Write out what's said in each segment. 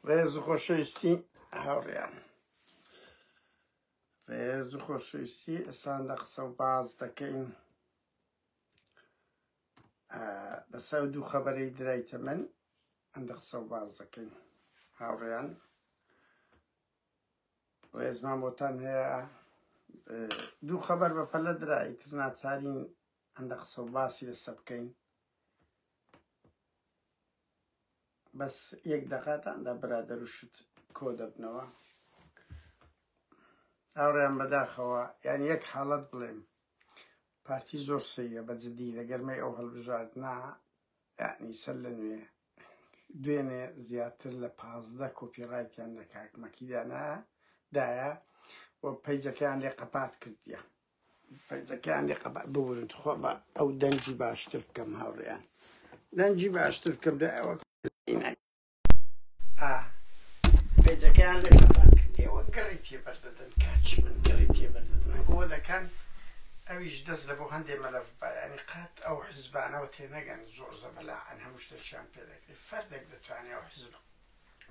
ڕێز و خۆشەویستی هاوڕیان ڕێز و خۆشەویستی ئەسان لە قسە و باز دەکەین لەسەر دوو خەبەرەی درایتە من ئەندە قسە و باز دەکەین هاوڕیان ڕێزمان بۆتان هەیە دوو خەبەر بە پەلە درایتر ناچارین ئەندە قسە و باسی لەسە بکەین بەس یەک دەقاتان دا برادەر و شت کۆ دەبنەوە هاوڕێیان بەداخەوە یان یەک حاڵەت بڵێم پارتی زۆر سەیرە بە جدی لە گەرمەی ئەو هەڵبژاردنا یعنی سەر لە نوێ دوێنێ زیاتر لە پازدە کۆپیڕایتیان لە کاک مەکیدانا دایە و پەیجەکەیان لێ قەپات کردیە پەنجەکەیان لێ قەبا ببورن تخوا با ئەو دەنگی باشتر بکەم هاوڕێیان دەنگی باشتر بکەم دا ئەوە پەنجەکەیان لێ قەبا ئێوە گڕی تێبەردەدەن کاچی من گڕی تێبەردەدەن ئەگۆ دەکەن ئەویش دەست لە بۆ هەندێ مەلەف با یانی قات ئەو حزبانەوە تێنەگەن زۆر زەبەلاحن هەموو شتێکیان پێ دەکرێت فەردێک دەتوانێت ئەو حزب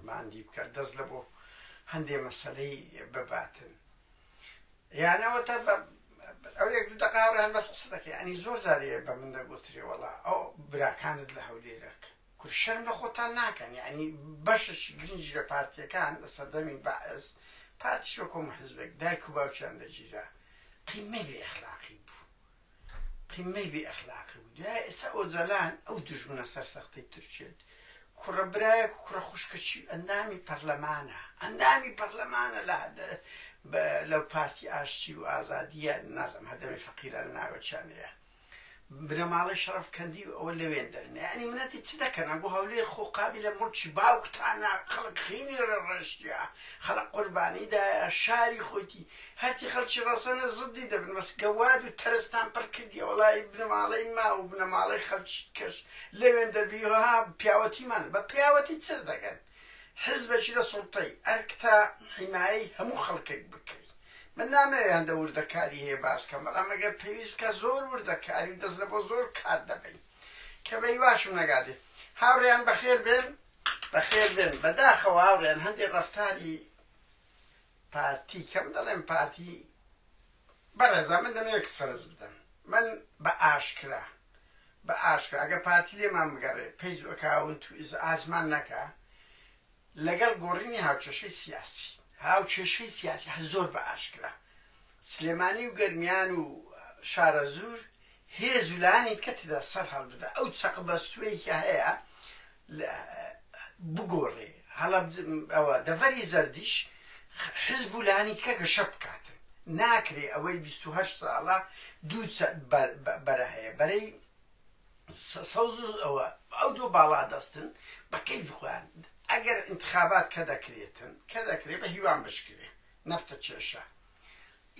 ماندی بکات دەست لە بۆ هەندێ مەسەلەی بباتن یان ئەوەتا بە ئەو یەک دوو دەقا ڕێیان بەس قسە دەکەی ئەنی زۆر جاری بە من دەگوتری وەڵا ئەو براکانت لە هەولێرەک کور شەرم لە خۆتان ناکەن یعنی بەشەشی گرنگی لە پارتیەکان لە سەردەمی بەعس پارتی شۆکۆم حزبێک دایک و باوکیان دەگیرا قیمەی بێ ئەخلاقی بوو قیممەی بێ ئەخلاقی بوو دوایە ئێستا ئۆجالان ئەو دوژمنە سەرسەختەی تورکیەت کوڕە برایەک و کوڕە خوشکەچی ئەندامی پەرلەمانە ئەندامی پەرلەمانە لە لەو پارتی ئاشتی و ئازادیە نازم هەدەمی فەقیران ناوەچانەیە بنەماڵەی شەرف کەندی و ئەوە لەوێن دەرنێ ئەنی منەتی چ دەکەن بۆ هەولێر خۆ قابلە مڵکی باوکتانە خەڵک خینی ڕێڕشتە خەڵک قوربانیدایە شاری خۆتی هەرچی خەڵکی ڕەسەنە زدی دەبن بەس گەواد و تەرستان پڕ کردیە وەڵایی بنەماڵەی ما و بنەماڵەی خەڵکی دکەش لەوێن دەبی و ها پیاوەتیمان بە پیاوەتی چر دەکەن حزبەکی لە سوڵتەی ئەرک تا حیمایەی هەموو خەڵکەک بکەی من نامەوێ هەندە وردەکاری هەیە باس کەم بەڵام ئەگەر پێویست بکە زۆر وردەکاری و دەست لەبۆ زۆر کار دەبەین کە بەی واشم نەگادێ هاوڕێیان بەخێر بێن بەخێر بێن بەداخەوە هاوڕێیان هەندی ڕەفتاری پارتی کەم دەڵێم پارتی بەڕێزان من دەمەوێت کچ فەرز بدەم من بە ئاشکرا بە ئاشکرا ئەگە پارتی لێمان بگەڕێ پەیج ئەکاونت و ئیزعاجمان نەکا لەگەڵ گۆڕینی هاوکێشەی سیاسی هاوکێشەی سیاسی هە زۆر بە ئاشکرا سلێمانی و گەرمیان و شارەزوور هێز و لایەنی دیکە تێدا سەر هەڵبدا، ئەو چەق بەستووەی کە هەیە بگۆڕێ، هەڵە ئەوە دەڤەری زەردیش حزب و لایەنی دیکە گەشە بکاتن، ناکرێ ئەوەی بیست و هەشت ساڵە دوو بەرە هەیە، بەرەی سەوز و ئەوە، ئەو دوو باڵادەستن بە کەیفی خۆیان، ئەگەر ئینتخابات کە دەکرێتن، کە دەکرێ بە هیوام بشکرێ، نەپتە چێشە.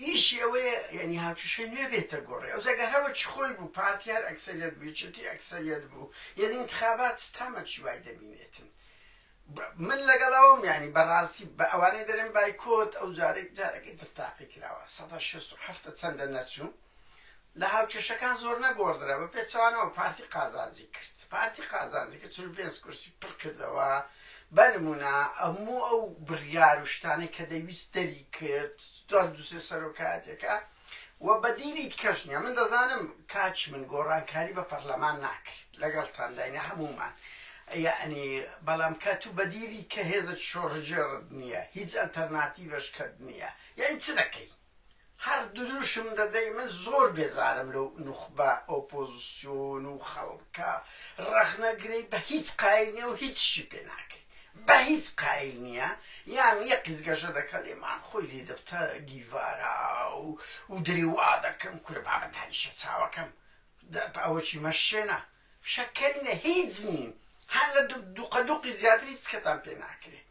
ئیشی ئەوەیە یانی هاتووشێ نوێ بێتە گۆڕێ ئەوجا گەر هەرۆکی خۆی بوو پارتی هەر ئەکسەریەت بوو یەکێتی ئەکسەریەت بوو یانی ئینتخابات تامەکی وای دەبینێتن من لەگەڵ ئەوەم یانی بەڕاستی بە ئەوانەی دەرێن بایکۆت ئەو جارێک جارەکەی تر تاقی کراوە سەدا شێست و حەفتا چەندە نەچوو لە هاوکێشەکان زۆر نەگۆڕدرا، بە پێچەوانەوە پارتی قازانجی کرد، پارتی قازانجی کرد، چل و پێنج کورسی پڕ کردەوە، بە نموونە هەموو ئەو بڕیار و شتانەی کە دەیویست دەریکرد، هەر دوو سێ سەرۆکایەتییەکە و بەدیلی دیکەش نییە، من دەزانم کاکی من گۆڕانکاری بە پەڕلەمان ناکرێت، لەگەڵتاندا یەنی هەموومان، یەعنی بەڵام کە تو بەدیلی کە هێزێکی شۆڕشگێڕت نییە، هیچ ئەلتەرناتیڤێشکەت نییە، یەعنی چ دەکەی؟ هەر دروشم دەدەی من زۆر بێزارم لەو نوخبە ئۆپۆزسیۆن و خەڵکە ڕەخنەگرەی بە هیچ قایل نیە و هیچیشی پێ ناکەی بە هیچ قایل نیە یان یەقیز گەشە دەکە لێمان خۆی لێ دەبتە گیڤارا و و دروا دەکەم کورە بابە دانیشە چاوەکەم ئەوەکی مەشێنە فشە کەرینە هیچ نین هەر لە دوقە دوقی زیاتر هیچ کەتان پێ ناکرێ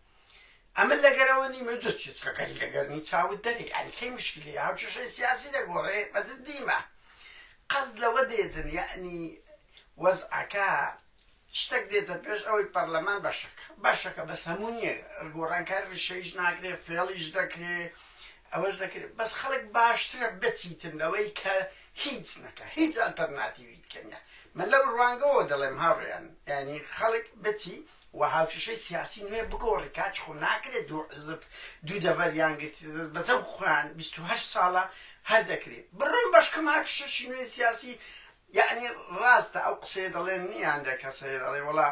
ئەمە لەگەرەوە نی مەجز چێت کە گەری لە گەرنی چاوت دەرێ ئەنی کەی مشکلی هاو چشەی سیاسی دەگۆڕێ مەجز دیمە قەز لەوە دێدن یعنی وەزعەکە شتێک دێتە پێش ئەوەی پەرلەمان بەشەکە بەشەکە بەس هەموو نییە گۆڕانکار ریشەیش ناکرێ فێڵیش دەکرێ ئەوەش دەکرێت بەس خەڵک باشترە بچیتن لەوەی کە هیچ نەکا هیچ ئەلتەرناتیڤیکە نیە من لەو ڕوانگەوە دەڵێم هاوڕێیان یانی خەڵک بچی و هاوکێشەی سیاسی نوێ بگۆڕی کاچ خۆ ناکرێ دوو حزب دوو دەڤەریان گرتی دەست بەسە خۆیان بیست و هەشت ساڵە هەر دەکرێ بڕۆن بەشکەم هاوکێشەشی نوێ سیاسی یانی ڕاستە ئەو قسەیە دەڵێن نیان دە کەسەیە دەڵێ وەڵا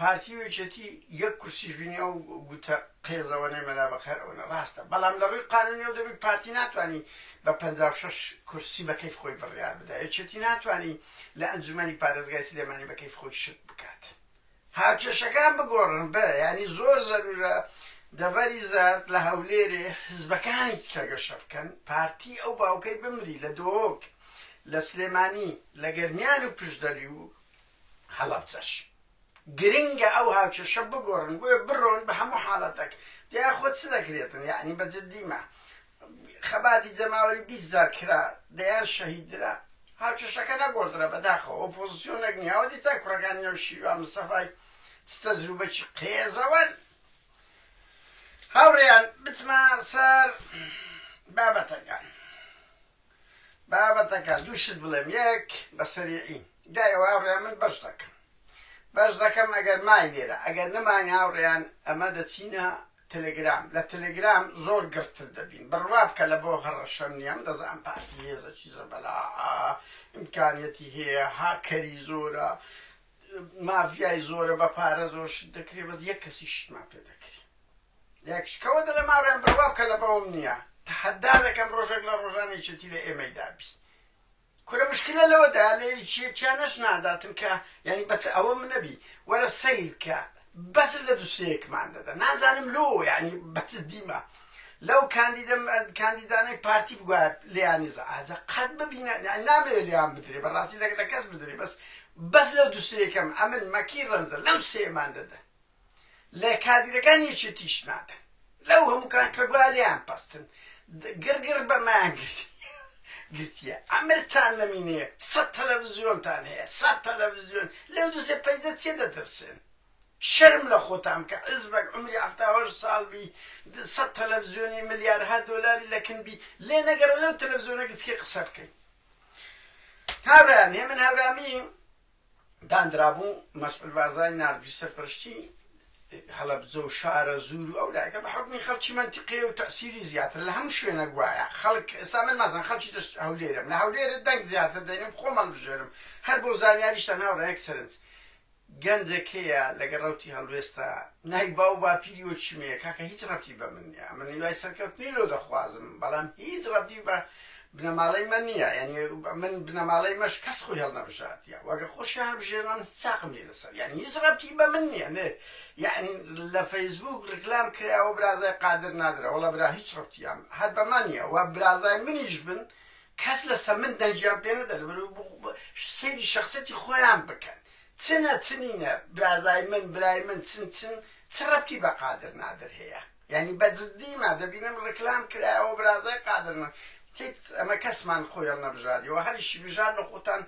پارتی و یەکێتی یەک کورسیش بینی ئەو گوتە قێزەوەنەی مەلا بەقەرەوەنە ڕاستە بەڵام لە ڕووی قانونی و دەبی پارتی ناتوانی بە پەنجا و شەش کورسی بە کەیف خۆی بڕیار بدا یەکێتی ناتوانی لە ئەنجومەنی پارێزگای سلێمانی بە کەیف خۆی شت بکات هاوکێشەکان بگۆڕن بە یانی زۆر زەرورە دەڤەری زەرد لە هەولێرێ حزبەکانی کە گەشە بکەن پارتی ئەو باوکەی بمری لە دۆک لە سلێمانی لە گەرمیان و پشدەری و هەڵەبجەش گرنگە ئەو هاوکێشە بگۆڕن بۆیە بڕۆن بە هەموو حاڵەتەک جا خۆ چ دەکرێتن یەعنی بە جدی مە خەباتی جەماوەری بیست جار کرا دەیان شەهید درا هاوکێشەکە نەگۆڕدرا بەداخەوە ئۆپۆزیسیۆن نەک نیاوە دیتا کوڕەکانی نەو شیروان مستەفای چ تەجروبەکی قێزەوەن هاوڕێیان بچمە سەر بابەتەکان بابەتەکە دوو شت بڵێم یەک بە سەریعی دای ئەوە هاوڕێیان من بەش دەکەم بەش دەکەم ئەگەر مای لێرە ئەگەر نەمای هاوڕێیان ئەمە دەچینە تەلەگرام لە تەلەگرام زۆر گڕتر دەبین بڕوا بکە لە بۆ هەڕەشەم نییە من دەزانم پارتی هێزە چیزە بەلا ئیمکانیەتی هەیە هاکەری زۆرە مافیای زۆرە بە پارە زۆر شت دەکرێ بەس یەک کەسی شتمان پێ دەکرێ لەکشکەوە دەلێم ئاڕێم بڕ وابکە لەبەوم نیە تەحەدا دەکەم ڕۆژەک لە ڕۆژان یەکێتی لە ئێمەی دابی کورە مشکلە لەوەدایە لە یەکێتیانەش ناداتن کە یانی بەچ ئەوە من نەبی وەرە سەیر کە بەس لە دوسەیەکمان دەدا نازانم لۆ یعنی بەچ دیمە لەو کاندیدم کاندیدانەی پارتی بگوات لیانی زعازە قەت ببینە نامێ لیان بدرێ بەڕاستی لەگە لە کەس بدرێ بەس بەس لەو دوسەیەکەم ئەمن مەکی ڕەنزە لەو سێمان دەدا لە کادیرەکان یەکێتیش نادەن لەو هەموو کان کە گوایە لێیان پەستن گڕ گڕ بەمەیان گرتیە ئەمرتان نەمینێ سەد تەلەڤزیۆنتان هەیە سەد تەلەڤزیۆن لەو دوسێ پەیزە چێ دەترسێن شەرم لە خۆتان کە عزبەک عمری هەفتاهۆش ساڵ بی سەد تەلەڤزیۆنی ملیارها دۆلاری لەکن بی لێ نەگەڕە لەو تەلەڤزیۆنە گچکێ قسە بکەین هاوران هێمن هاورامی دانرابوو، مەسعود بارزانی ناردبی سەرپەرشتی هەڵەبجە و شارەزوور و ئەو لایەکە بە حوکمی خەڵکی مەنتیقەیە و تەئسیری زیاترە لە هەموو شوێنەک وایە خەڵک ئێستا من مەسەڵەن خەڵکی دەشت هەولێرم لە هەولێرە دەنگ زیاتر دەینم خۆم هەڵبژێرم هەر بۆ زانیاریشتان هاوڕێیان یەک سەرنج گەنجێک هەیە لەگە ڕەوتی هەڵوێستە نای باو باپیری وەچی مەیە کاکە هیچ ڕەبتی بە من نیە من هیوای سەرکەوتنی لۆ دەخوازم بەڵام هیچ ڕەبتی بە بنەماڵەی مە نیە یانی من بنەماڵەی مەش کەس خۆی هەڵنەبژاردیە وەگە خۆشی هەڵبژێرنە من چاقم لێ لەسەر یانی هیچ ڕەبتی بە من نیە نێ یانی لە فەیسبووک ڕیکلام کراوە برازای قادر نادرە وەڵا برا هیچ ڕەبتیان هەر بە مە نیە وە برازای منیش بن کەس لەسە من دەنگیان پێ نەدە لەبەر سەیری شەخسەتی خۆیان بکەن چنە چنینە برازای من برای من چن چن چ ڕەبتی بە قادر نادر هەیە یانی بە جدی ما دەبینم رکلام کرایە ئەوە برازای قادر نە هیچ ئەمە کەسمان خۆیڵ نەبژاریەوە هەریشی بژار لە خۆتان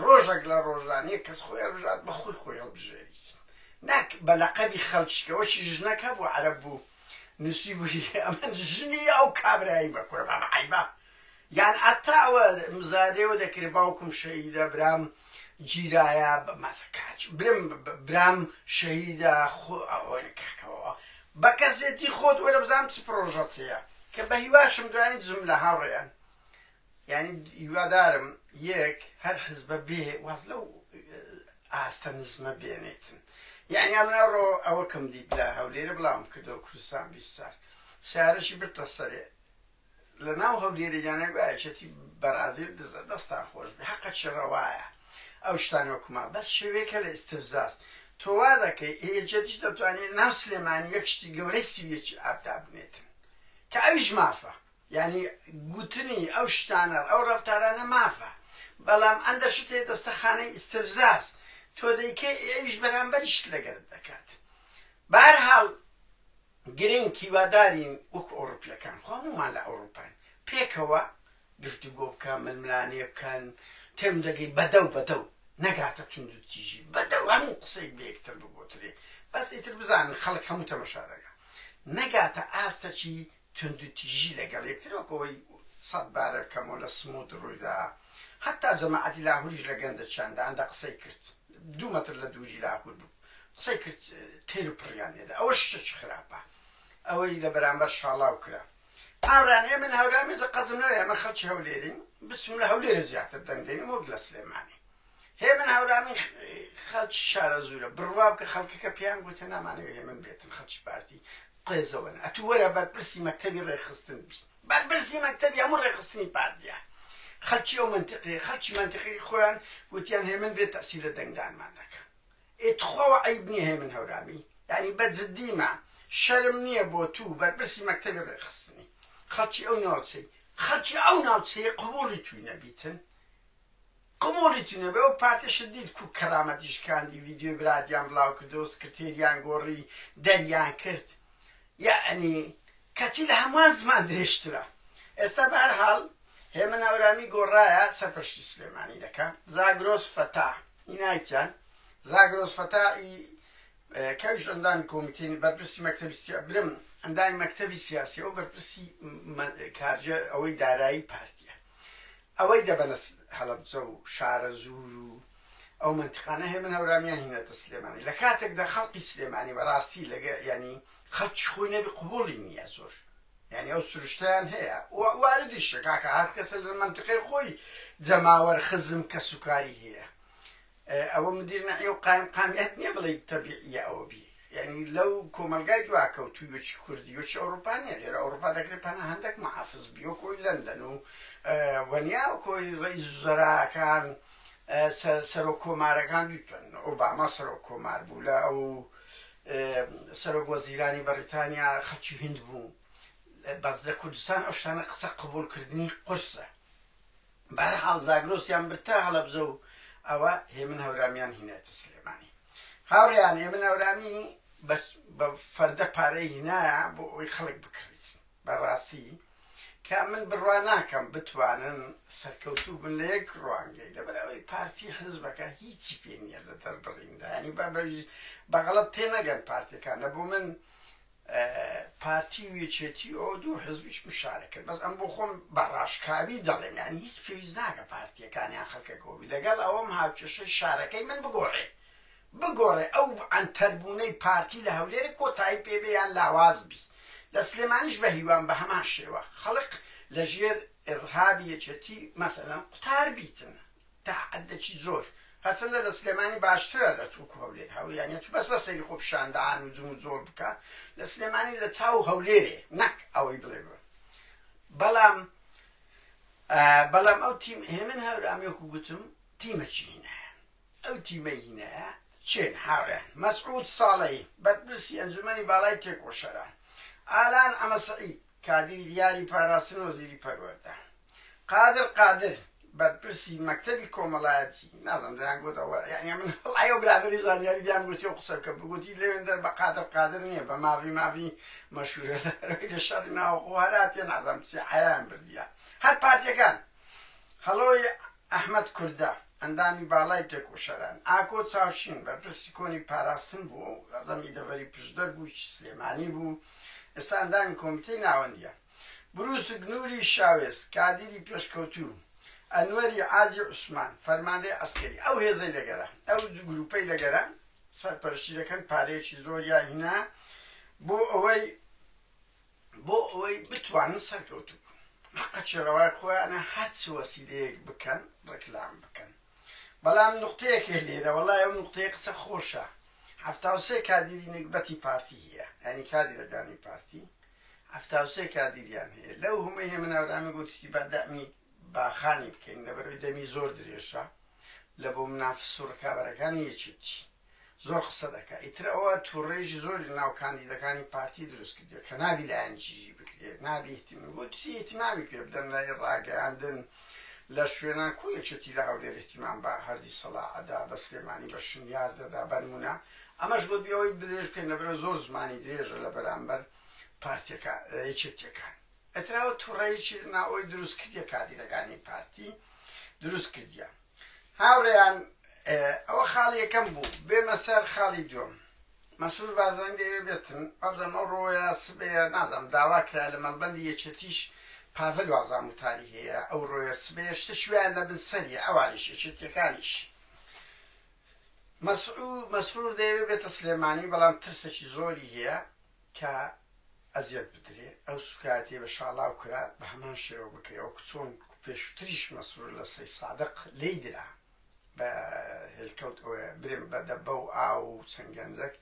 رۆژەک لە رۆژان یەک کەس خۆیڵ بژات بە خۆی خۆیڵ بژێریت نەک بە لەقەبی خەلکی کە وەکی ژنەک هەبوو عەرەب بوو نوسیبوی ئەمن ژنی ئەو کابرایەی بە کورە بابە عەیبە. یان حەتا ئەوە مزادەیەوە دەکرێ باوکم شەهیدە برام گیرایە مەسە کاچ برم برام شەهیدە خۆ ئەوەنە کاکەوە بە کەسێتی خۆت وەرە بزانام چ پرۆژەت هەیە کە بە هیواشم دوایین زم لە هاوڕێیان یعنی هیوادارم یەک هەر حزبە بێ واز لەو ئاستە نزمە بێنێتن یعنی ئەمناڕۆ ئەوە کەم دیت لە هەولێرە بڵاوم کردەوە کوردستان بیست سار سارەشی برتە سەرێ لەناو هەولێرە یانە گوایە یەکێتی بەرازیل دزە دەستان خۆشبێ هەقەچی ڕەوایە ئەو شتانە وەکوما بەس شێوەیەکە لە ئیستفزاز تۆ وا دەکەی ئێ یەکێتیش دەتوانێت ناو سلێمانی یەک شتی گەورەی سی و یەکی ئاب دابنێتن کە ئەویش مافە یعنی گوتنی ئەو شتانە ئەو ڕەفتارانە مافە بەڵام ئەندە شتێ دەستەخانەی ئیستفزاز تۆ دەیکەی ئێ ئەویش بەرامبەری شت لەگەرت دەکات بارحاڵ گرنگ هیوادارین وەکو ئەوڕپیەکان خۆ هەموومان لە ئەوڕوپاین پێکەوە گفتوگۆ بکە ململانێ بکەن تێم دەگەی بەدەو بەدەو نەگاتە توند و تیژی بەدەو هەموو قسەیەک بە یەکتر بگۆترێ بەس ئیتر بزانن خەڵک هەموو تەمەشا دەگا نەگاتە ئاستەکی توند و تیژی لەگەڵ یەکتر وەک ئەوەی سەد بارە بکەمەوە لە سموود ڕوویدا هەتا جەماعەتی لاهوریش لە گەنجەکیان داندا قسەی کرد دوو مەتر لە دووری لاهور بوو قسەی کرد تێر پڕیان لێدا ئەوە شتە چ خراپە ئەوەی لە بەرامبەر شاڵاو کرا هاورێیان ئێمە لە هەورامی دە قەزم نەوە ئێمە خەڵکی هەولێرین بچم لە هەولێرە زیاتر دەنگ دەینم وەک لە سلێمانی هێمن هەورامی خەڵکی شارەزوورە بڕواب کە خەڵکەکە پێیان گوتە نامانەوە هێمن بێتن خەڵکی پارتی قێزەوەن ئەتو وەرە بەرپرسی مەکتەبی ڕێخستن بی بەرپرسی مەکتەبی هەموو ڕێخستنی پارتیە خەلکی ئەو منتیقی خەلکی منتیقی خۆیان وتیان هێمن بێت تەسیلە دەنگدانمان دەکە ئێ تخواوە عەیب نیە هێمن هەورامی یانی بە جدیمە شەرم نیە بۆ توو بەرپرسی مەکتەبی ڕێکخستنی خەڵکی ئەو ناوچەی خەڵکی ئەو ناوچەیە قبوڵی تووی نەبیتن قبوڵی تووی نەبێ ئەو پارتیشت دیت کو کەرامەتی شکاندی ڤیدیۆی برادیان بڵاو کردەوە سکرتێریان گۆڕی دەریان کرد یەعنی کەچی لە هەمووان زمان درێژترە. ئێستا بە هەر حاڵ هێمن ئاورامی گۆڕایە سەر پەشتی سلێمانی دەکا زاگرۆس فەتا ی نایکیان زاگرۆس فەتا ی کەویش ئەندامی کۆمیتەی بەرپرسی مەکتەبی سیا برم ئەندامی مەکتەبی سیاسیە و بەرپرسی کارجێ ئەوەی دارایی پارتیە ئەوەی دەبەنە هەڵەبجە و شارەزوور و ئەو مەنتیقانە هەیە من هەورامیان هینەتە سلێمانی لە کاتێکدا خەڵقی سلێمانی بەڕاستی لەگە یانی خەڵکی خۆی نەبی قبوڵی نییە زۆر یانی ئەو سروشتیان هەیە و واردیشە کاکە هەر کەسە لە مەنتیقەی خۆی جەماوەر خزم کەسوکاری هەیە ئەوە مدیر نەعی و قایم قامیات نیە بڵێی تەبیعیە ئەوە بی یانی لەو کۆمەلگای دواکەوتوی وەکی کوردی وەکی ئەوروپا نیە لێرە ئەوروپا دەکرێ پەناهەندەک محافز بی وەکۆی لەندەن و وە نیا وەکۆی رئیس وزەراکان سەرۆک کۆمارەکان بیتوەن ئۆباما سەرۆک کۆمار بوو لە ئەو سەرۆک وەزیرانی بەریتانیا خەلکی هند بوو بەس لە کوردستان ئەو شتانە قسە قبول کردنی قورسە بەهەرحاڵ زاگرۆسیان برد تا هەڵەبجە و ئەوە هێمن هەورامیان هینایەتە سلێمانی. هاوڕێیان هێمن هەورامی بە فەردە پارەی هینایە بۆ ئەوەی خەڵک بکڕیت. بە ڕاستی کە من بڕوا ناکەم بتوانن سەرکەوتوو بن لە یەک ڕوانگەی لەبەر ئەوەی پارتی حزبەکە هیچی پێ نییە لە دەربڕیندا یانی با بە غەڵەت تێنەگەن پارتەکانە بۆ من پارتی و یەکێتی و دوو حزبیش مشارەک کرد بەس ئەم بۆ خۆم بە ڕاشکاوی دەڵێم یانی هیچ پێویست ناکە پارتیەکان یان خەلکەکەوە بی لەگەڵ ئەوەم هاوکێشەی شارەکەی من بگۆڕێ بگۆڕێ ئەو عەنتەر بوونەی پارتی لە هەولێرێ کۆتایی پێ بێ یان لاواز بی لە سلێمانیش بە هیوام بە هەمان شێوە خەڵک لە ژێر ئێڕهابی یەکێتی مەسەلەن قوتار بیتن تەحەدەکی زۆر هەرچەندە لە سلێمانی باشترە لە توکو هەولێر هەوریانە تو بەس بە سەیری خۆ پیشان دان و جمو جۆڵ بکە لە سلێمانی لە چاو هەولێرێ نەک ئەوەی بڵێ بە بەڵام بەڵام ئەو تیم هێمن هەورامی وەکو گوتم تیمەکی هینە ئەو تیمە هینە چێن هاوێن مەسعود ساڵەی بەرپرسی ئەنجومەنی باڵای تێکۆشەران ئالان ئەمە سعید کادری دیاری پاراستن وەزیری پەروەردە قادر قادر بەرپرسی مەکتەبی کۆمەلایەتی نازم دەیان گوتە یعنی من ئەو برادری زانیاری دیان گوتی و قسە بکە بگوتی لەوێن دەر بە قادر قادر نییە بە ماوی ماوی مەشورە لە شەڕی ناوەخۆ هەراتێ نازم چی حیان بردیە هەر پارتەکان هەڵۆی ئەحمەد کوردە، ئەندامی باڵای تێکۆشەران، ئاکۆ چاوشین، بەرپرسی کۆنی پاراستن بوو، خەزەمی دەڤەری پشدەر بوو، کچی سلێمانی بوو، ئێستا ئەندامی کۆمیتەی ناوەندییە. برووسک نووری شاوێس، کادیری پێشکەوتوو، ئەنوەری عاجی عوسمان، فەرماندەی عەسکەری. ئەو هێزەی لە گەرە، ئەو گرووپەی لە گەرە سەرپەرشتی دەکەن، پارەیەکی زۆریان هینا بۆ ئەوەی، بۆ ئەوەی بتوانن سەرکەوتوو بن حەقەچی ڕەوای خۆیانە هەرچ وەسیلەیەک بکەن ڕێکلام بکەن بەڵام نقطەیەک هەیە لێرە وەڵای ئەو نقطەیە قسە خۆشە هەفتا و سێ کادیری نەگبەتی پارتی هەیە یعنی کادیرەکانی پارتی هەفتا و سێ کادیریان هەیە لەو هەمەی هێمن ئاورامی گوتیشی با دەعمی باخانی بکەین لەبەرەوەی دەمی زۆر درێژە لە بۆ منافس و ڕکابەرەکانی یەکێتی زۆر قسە دەکا ئیتر ئەوە توڕەیش زۆری لەناو کاندیدەکانی پارتی دروست کردیە کە نابی لایەن جیی بکرێت نابی اهتمام بۆ چی اهتمامی پێ بدەن لە ڕاگەیاندن لە شوێنان کو یەکێتی لە هەولێر اهتمام بە هەردی سەڵا ئەدا بە سلێمانی بە شنیار دەدا بە نمونە ئەمەش بۆ بی ئەوەی درێژ بکەین لەبەرە زۆر زمانی درێژە لە بەرامبەر پارتیەکە یەکێتیەکان ئەتراوە توڕەیەکی لەناو ئەوی دروست کردیە کادیرەکانی پارتی دروست کردیان هاوڕێیان ئەوە خاڵی یەکەم بوو بێمە سەر خاڵی دووەم مەسرور بارزانی دەیەوێ بێتن بەڵام ئەو ڕۆیە سبەیە نازام داوا کرا لە مەڵبەندی یەکێتیش پاڤل وازان وتاری هەیە ئەو ڕۆیە سبەیە شتە شویان لە بن سەری ئەوانیش یەکێتیەکانیش مەسعود مەسرور دەیەوێ بێتە سلێمانی بەڵام ترسێکی زۆری هەیە کە ئەزیەت بدرێ ئەو سوکایەتیە بە شاڵاو کرا بە هەمان شێوە بکرێ وەکو چۆن پێشوتریش مەسرور لە سەی سادق لێی درا بە هێلکەوت ئۆێ برێم بە دەبە و ئاو و چەند گەنجەک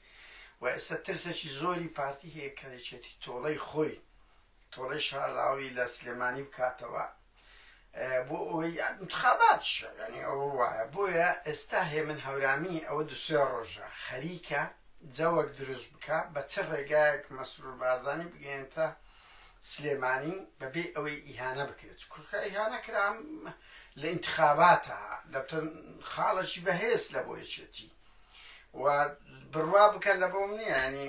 وە ئێستا ترسەکی زۆری پارتی هەیە کە یەکێتی تۆڵەی خۆی تۆڵەی شاراوی لە سلێمانی بکاتەوە بۆ ئەوەی انتخاباتشە یعنی ئەوە وایە بۆیە ئێستا هێمن هەورامی ئەوە دو سێ ڕۆژە خەریکە جەوەک دروست بکە بە چ ڕێگایەک مەسرور بارزانی بگەێنتە سلێمانی بەبێ ئەوەی ئیهانە بکرێت کوکە ئیهانە کرام لە انتخاباتە دەبتن خاڵەکی بەهێز لە بۆ یەکێتی و بڕوا بکەن لە بۆم نییە ینی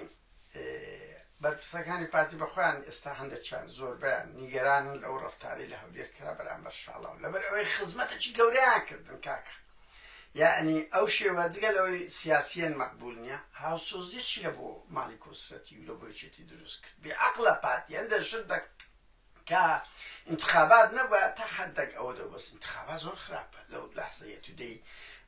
بەرپرسەکانی پارتی بەخۆیان ئێستا هەندێکیان زۆربەیان نیگەرانن لەو ڕفتاری لە هەولێر کرا بەرامبەر شاڵاو لەبەر ئەوەی خزمەتەکی گەوریان کردن کاکە یعنی ئەو شێوە جگە لەوەی سیاسیەن مەقبول نییە هاوسۆزیەکی لە بۆ مالی کۆسرەتی و لە بۆیچێتی دروست کرد بێعقلە پارتی هەندێک شت دەک تا انتخابات نەبا تا حدەک ئەوە دەو بەس انتخابات زۆر خراپە لەو لەحزەیە تو دەی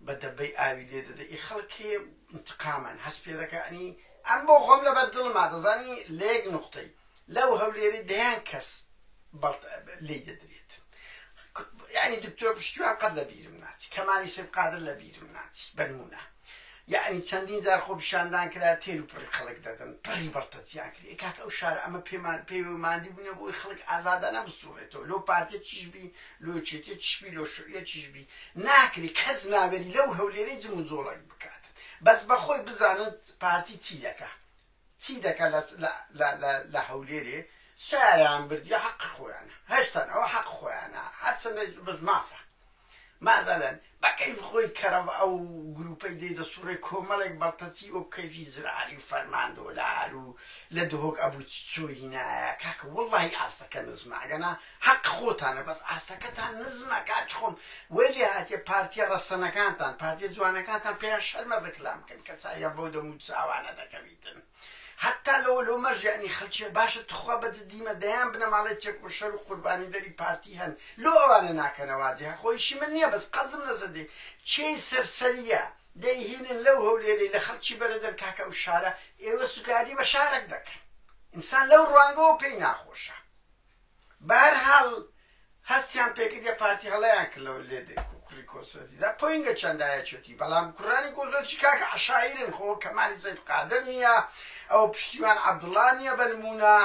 بە دەبەی ئاوی لێ دەدە ئی خەڵک هەیە انتقامن هەست پێ دەکەنی ئەم بۆ خۆم لەبەر دڵما دەزانی لەیەک نقطەی لەو هەولێری دەیان کەس بەڵت لی دەدرێت یعنی دکتۆر پشتیوان قەت لە بیرم ناچی کەمالی سید قادر لە بیرم ناچی بەنمونە یەعنی چەندین جار خۆپیشاندان کرا تێل و پڕی خەڵک دەدەن پڕی بەڕتەچیان کرد ئێ کاکە ئەو شارە ئەمە پێمان پێوێ و ماندی بووینە بۆی خەڵک ئازادانە بسوڕێتەوە لۆ پارتیە چیش بی لۆ یەکێتیە چیش بی لۆ شوعیە چیش بی ناکری کەس ناوێری لەو هەولێرەی جم و جۆڵەک بکاتن بەس بە خۆی بزانن پارتی چی دەکا چی دەکا لە لە لە لە لە هەولێرێ ساریان بردیە حەقی خۆیانە هەشتان ئەوە حەق خۆیانە هەرچەندە بەس مافە مازادان، بە کەیف خۆی کەڕەڤ ئەو گرووپەی دێ دەسووڕێ کۆمەڵێک بەڵتەچی وەک کەیفی زراری و فەرمان دۆلار و لە دهۆک ئەبوو چ چۆ هینایە کاکە وەڵڵاهی ئاستەکە نزمە ئەگەنا هەق خۆتانە بەس ئاستەکەتان نزمە کاچ خۆم وەی لێ هاتیە پارتیە ڕەسەنەکانتان پارتیە جوانەکانتان پێیان شەرمە ڕیکلام بکەن کە چاویان بەو دەموو چاوانە دەکەویتن. هەتا لەوە لۆمەش یەعنی خەلکیە باشە توخوا بە جدی مە دەیان بنەماڵەی تێکۆشەر و قوربانی دەری پارتی هەن لۆ ئەوانە ناکەنە واجی هە خۆ ئیشی من نیە بەس قەزم لەسە دێ چێی سەرسەریە دەی هینن لەو هەولێرەی لە خەلکی بەرەدەن کاکە ئەو شارە ئێوە سوکایەتی بە شارەک دەکەن ئینسان لەو روانگەوە پێی ناخۆشە بەهەرحاڵ هەستیان پێکرد یە پارتی هەڵەیان کرد لەوە لێ دێ کوڕی کۆسرەتی دا پۆینگە چەندە یەچێتی بەڵام کوڕانی کۆسرەتی کاک عەشایرن خۆ کەمالی سەید قادر نیە ئەوە پشتیوان عەبدوڵا نیە بە نموونە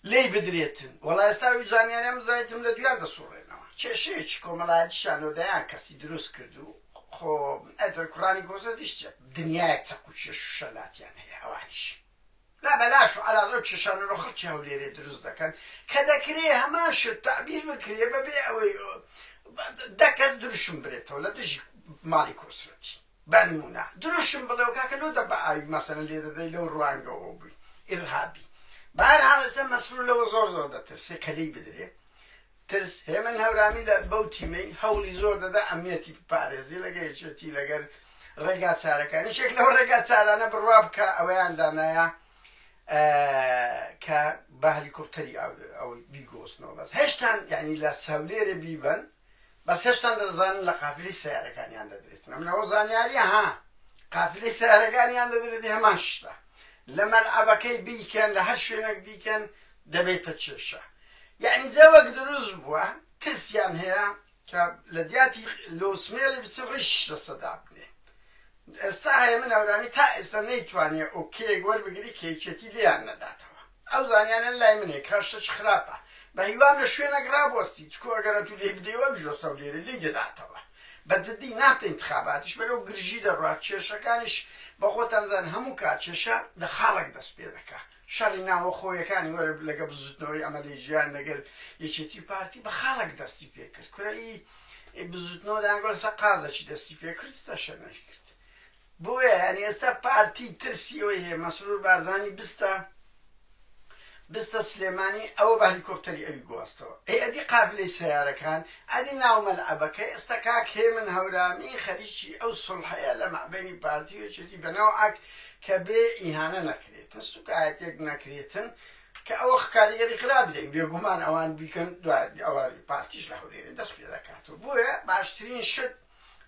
لێی بدرێتن وەڵا ئێستا وی زانیاریان بزانیتم لە دویان دەسوڕێنەوە کێشەیەکی کۆمەڵایەتیشیان لۆ دەیان کەسی دروست کرد و خۆ ئەتر کوڕانی کۆسرەتیش چ دنیایەک چەقوچێش و شەلاتیان هەیە ئەوانیش لا بەلاش و عەلا لەو چەشانە لە خەڵکی هەولێرێ دروست دەکەن کە دەکرێ هەمان شت تەعبیر بکرێ بە بێ ئەوەی دە کەس دروشم برێتەوە لە دژی ماڵی کۆسرەتی بە نموونە دروشم بڵێ و کاکە لۆ دە بە ئاوی مەسەلەن لێ دەدەی لەو ڕوانگەوە بووی ئیرهابی بە هەر حاڵ ئێستا مەسرور لەوە زۆر زۆر دەترسێ کە لێی بدرێ ترس، هێمن هەورامی لە بەو تیمەی هەوڵی زۆر دەدا ئەمنیەتی بپارێزی لەگە یەکێتی لەگەر ڕێگا چارەکانی شێک لەو ڕێگا چارانە بڕوا بکە ئەوەیان دانایە کە بە هەلیکۆپتەری ئەوەی بیگۆستنەوە بەس هێشتان یعنی لە سەولێرێ بیبەن بەس هێشتان دەزانن لە قافلی سیارەکانیان دەدرێتن منەوە زانیاریە ها قافلی سیارەکانیان دەدرێتی هەمان شتە لە مەلعبەکەی بیکەن لە هەر شوێنێک بیکەن دەبێتە کێشە یەعنی جا وەک دروست بوە ترسیان هەیە کە لە جیاتی لۆ سمێڵی بچن ڕیشیش لەسە دابنێن ئێستا هەیە من هەورامی تا ئێستا نەیتوانێ ئۆکێک وەربگری کە یەکێتی لێیان نەداتەوە ئەو زانیانە لای منێ کە شتێکی خراپە بە هیوام لە شوێنەک ڕابوەستی چکۆ ئەگەر ئەتوو لێی بدەی ئەویش وەستا و لێرە لێی دەداتەوە بە جدی ناتە ئینتخاباتیش بەرەو گرژی دەڕوات کێشەکانیش بە خۆتان زان هەموو کات کێشە لە خاڵێک دەست پێ دەکا شەڕی ناوەخۆیەکانی وەر لەگەڵ بزوتنەوەی ئەمەلی جیان لەگەل یەکێتی و پارتی بە خاڵەک دەستی پێکرد کورە ئی بزوتنەوە دان گۆل سە قازەکی دەستی پێکرد تەشە نەشکرد بۆیە یانی ئێستا پارتی ترسی ئەوەی هەیە مەسرور بارزانی بستە بستە سلێمانی ئەوە بە هەلیکۆپتەری ئەوی گواستەوە ئەی ئەدی قابلەی سیارەکان ئەدی ناو مەلعەبەکە ئێستا کاک هێمن هەورامی خەریکی ئەو سڵحەیە لە مەعبەینی پارتی و یەکێتی بەنەوعەک کە بێ ئیهانە نەکرد کریتن سوکایەتیەک نەکریتن کە ئەوە خکاریگەری خراپ بدەین بێگومان ئەوان بیکەن دوای ئەوە پارتیش لە هەولێرێ دەست پێ دەکات و بۆیە باشترین شت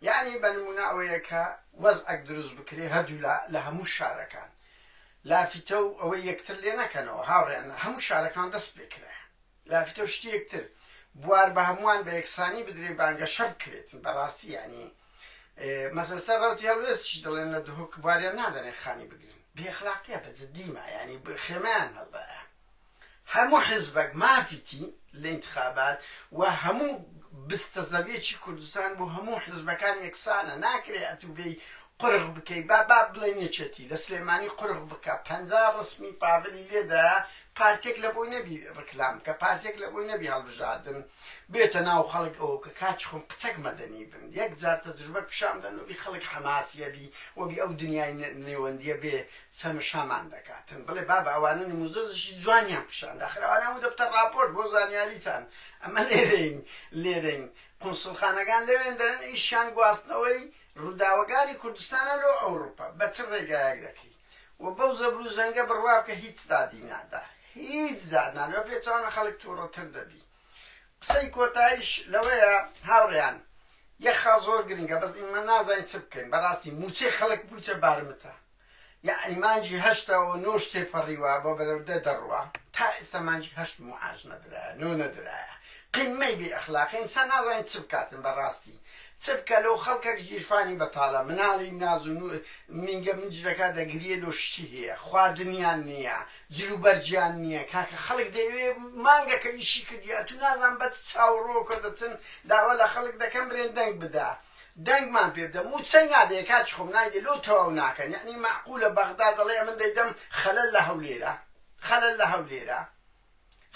یعنی بە نمونە ئەوەیە کە وەزعەک دروست بکرێ هەردوولا لە هەموو شارەکان لافیتە و ئەوەی یەکتر لێ نەکەنەوە هاوڕێیان هەموو شارەکان دەست پێکرایە لافتە و شتیک تر بوار بە هەمووان بە یەکسانی بدرێ بانگەشە بکرێت بە ڕاستی یانی مەسە سەر ڕەوتی هەڵوێستیش دەڵێن لە دهۆک بواریان نادەنێ خانی بگرن بێ اخلاقیە بە جدی ما یانی خێمەیان هەڵدایە هەموو حزبەک مافیتی لە انتخابات و هەموو بستە زەویەکی کوردستان بۆ هەموو حزبەکان یەکسانە ناکرێ ئەتوبێی قورغ بکەی با با بڵێن یەکێتی لە سلێمانی قورغ بکە پەنجا ڕسمی پاڤلی لێدایە پارتێک لەبۆی نەبی ڕکلام بکە پارتێک لەبۆی نەبی هەڵبژاردن بێتە ناو خەڵک ئەوە بکە کاچ خۆم قچەک مەدەنی بن یەک جار تەجربە پیشان دەن وەبی خەڵک حەماسیە بی وەبی ئەو دنیای نێوەندیە بێ چەمشەمان دەکاتن بڵێ بابە ئەوانە نموزەزشی جوانیان پیشان دا خەر ئەوانە هەموو دەبتە ڕاپۆرت بۆ زانیاریتان ئەمە لێرەین لێرەین قونسڵخانەکان لەوێن دەرن ئیشیان گواستنەوەی ڕوداوەگانی کوردستانە لۆ ئەوڕوپا بە چ ڕێگایەک دەکەی و بەو زەبرو زەنگە بڕوا بکە هیچ دادی نادا هیچ داد نادا بە پێچەوانە خەڵک توڕە تر دەبی قسەی کۆتایش لەوەیە هاوڕێیان یەک خاڵ زۆر گرنگە بەس ئیمە نازانین چ بکەین بەڕاستی موچەی خەڵک بویتە بارمتە یەعنی مانگی هەشتە و نۆش تێپەڕیوە بۆ بەرەو دە دەڕوا تا ئێستا مانگی هەشت موعاش نەدرایە نۆ نەدرایە قیممەی بێ ئەخلاقی ئینسان نازانێ چ بکاتن بەڕاستی چ بکا لۆ خەڵکەک گیرفانی بەتاڵە مناڵی ناز و نوو مینگە مجرەکە دەگریێ لۆ شتی هەیە خواردنیان نییە جل و بەرگیان نییە کاکە خەڵک دەیەوێ مانگەکە ئیشی کردی ئەتوو نازان بە چ چاووڕۆکە دەچن داوا لە خەڵک دەکەن برێن دەنگ بدە دەنگمان پێ بدە موچەی نادەیە کاکی خۆم نایدە لۆ تەواو ناکەن یەعنی مەعقولە بەغدا دەڵێ ئەمن دەیدەم خەلەل لە هەولێرە خەلەل لە هەولێرە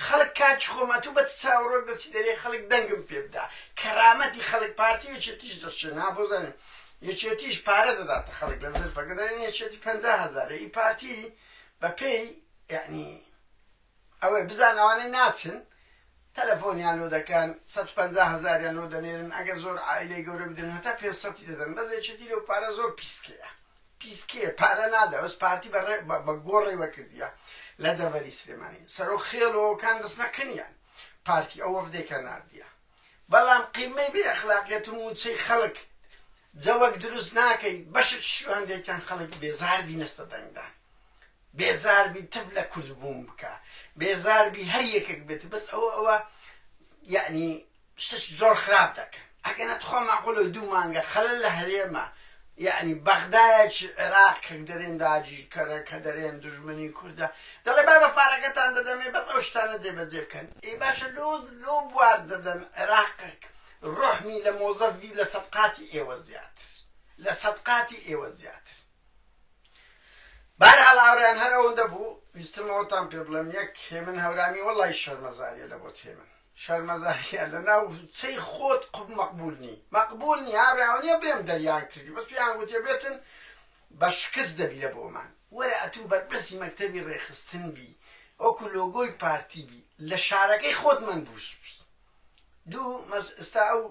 خەلک کاکی خۆم ئەتو بە چ چاوەڕۆک دەچی دەرێ خەلک دەنگم پێ بدا کەرامەتی خەلک پارتی یەکێتیش دەشێن ها بۆ زانین یەکێتیش پارە دەداتە خەلک لە زلفەکە دەرێن یەکێتی پەنجا هەزارە ئی پارتی بە پێی یەعنی ئەوەی بزان ئەوانەی ناچن تەلەفۆنیان لۆ دەکەن سەد و پەنجا هەزاریان لۆ دەنێرن ئەگەر زۆر عائیلەی گەورە بدەن هەتا پێنج سەتی دەدەن بەس یەکێتی لۆ پارە زۆر پیسکەیە پیسکەیە پارە نادا بەس پارتی بە ڕێ بە گۆ ڕێوە کردیە لە دەڤەری سلێمانی سەرۆ خێڵۆکان دەستنە قنیان پارتی ئەو وەفدەی کە ناردیە بەڵام قیمەی بێ ئەخلاقیەت و موچەی خەڵک جەوەک دروست ناکەی بەشت شو هەندێکیان خەڵک بێزار بینەستە دەنگدان بێزاربی تف لە کوردبوون بکە بێزاربی هەر یەکەک بێت بەس ئەوە ئەوە یەعنی شتەکی زۆر خراپ دەکەن ئەگەنا تخوا مەعقولە دوو مانگە خەلەل لە هەرێمە یەعنی بەغدایەکی عێراق کە دەرێن داگیرکەرە کە دەرێن دوژمنی کوردە دەڵێ با بە پارەکەتان دەدەمێ بەس ئەو شتانە جێبەجێ بکەن ئەی باشە لۆ لۆ بوار دەدەن عێراقێک ڕۆحمی لە مۆزەفی لە سەد قاتی ئێوە زیاتر لە سەد قاتی ئێوە زیاتر بەهەرحاڵ هاوڕێیان هەر ئەوەندە بوو ویستم ئەوەتان پێ بڵێم یەک هێمن هەورامی وەڵای شەرمەزاریە لە بۆت هێمن شەرمەزاریە لە ناو چەی خۆت قوب مەقبول نی مەقبول نی هاوڕێ ئەوە نیە بڵێم دەریان کردی بەس پێیان گوتێ بێتن بە شکست دەبی لە بۆمان وەرە ئەتوو بەرپرسی مەکتەبی ڕێخستن بی وەکو لۆگۆی پارتی بی لە شارەکەی خۆت منبوس بی دوو مەس ئستا ئەو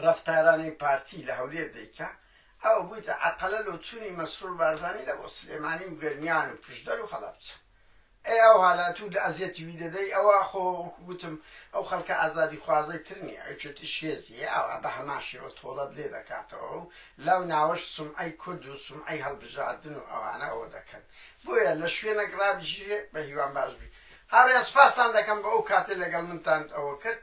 رەفتارانەی پارتی لە هەولێر دەیکا ئەوە بویتە عەرقەلە لۆ چونی مەسرور بارزانی لە بۆ سلێمانی و گەرمیان و پشدەر و هەڵەبجە ئەی ئەو هەالە تو لە ئەزیەتی وی دەدەی ئەوە خۆ وەکو گوتم ئەو خەلکە ئازادی خوازەی تر نیە ئەی چۆتیش هێزی ئاوا بە هەمان شێوە تۆڵەت لێ دەکاتەوە و لەو ناوەش سومعەی کورد و سومعەی هەلبژاردن و ئەوانە ئەوە دەکەن بۆیە لە شوێنەک رابژیژێ بە هیوام باش بی هاورێیان سپاستان دەکەم بۆ ئەو کاتەی لەگەڵ منتان ئەوە کرد.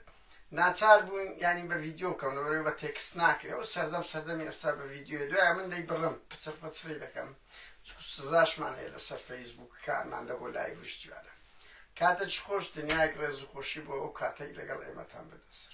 ناچار بوون یانی بە ڤیدیۆ بکەم لەبەرەوەی بە تێکست ناکرێ و سەردەم سەردەمی ئێستا بە ڤیدیۆ دوایە من دەی بڕم پچڕ پچڕی دەکەم چکو سزاشمان هەیە لەسەر فەیسبووک کانمان لە بۆ لایڤ و شتیوانە کاتەکی خۆش دنیایەک ڕێز و خۆشی بۆ ئەو کاتەی لەگەڵ ئێمەتان بردە سەر.